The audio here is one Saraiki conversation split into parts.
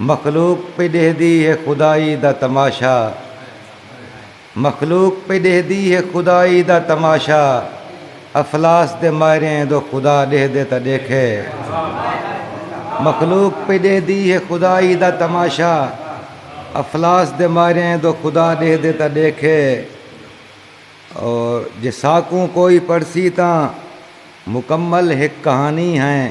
مخلوق پئی ݙیہدی ہے خدائی دا تماشا مخلوق پئی ݙیہدی ہے خدائی دا تماشا افلاس دے مائریں دو خدا ݙیہدے تاں ݙیکھے مخلوق پئی ݙیہدی ہے خدائی دا تماشا افلاس دے مائریں دو خدا ݙیہدے تاں ݙیکھے او جے ساکوں کوئی پڑھسی تاں مکمل ہک کہانی ہیں۔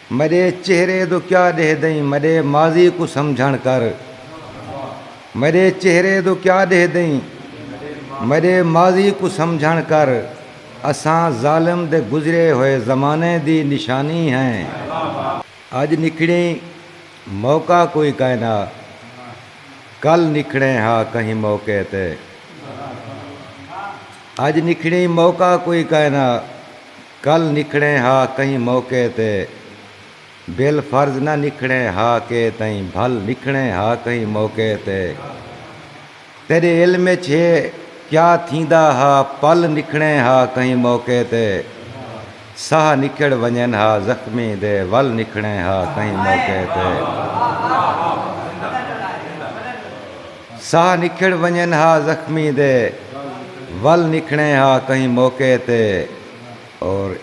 میڈے چہرے دو کیا ڈیہدئیں میڈے ماضی کوں سمجھنڑ کر میڈے چہرے دو کیا ڈیہدئیں میڈے ماضی کوں سمجھنڑ کر اساں ظالم دے گزرے ہوئے زمانے دی نشانی ہیں اج نکھڑیں موقع کوئی کائنا کل نکھڑیں ہا کہیں موقع تے اج نکھڑیں موقع کوئی کائنا۔ کل نکھڑیں ہا کہیں موقع تے بل فرض نہ نکھڑیں ہا کے تئیں بھل نکھڑیں ہا کہیں موقع تے تیڈے علم اچ ہے کیا تھیندا ہا پل نکھڑیں ہا کہیں موقع تے ساہ نکھڑ ونجن ہا زخمی دے ول نکھڑیں ہا کہیں موقع تے۔ ساہ نکھڑ ونجن ہا زخمی دے ول نکھڑیں ہا کہیں موقع تے اور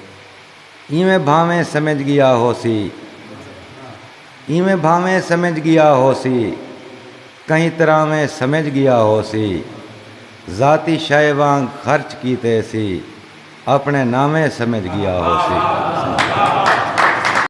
ایویں بھانویں سمجھ گیا ہوسی ایویں بھانویں سمجھ گیا ہوسی کہیں طرحویں سمجھ گیا ہوسی ذاتی شئے وانگ خرچ کیتے سی اپنے ناویں سمجھ گیا ہوسی۔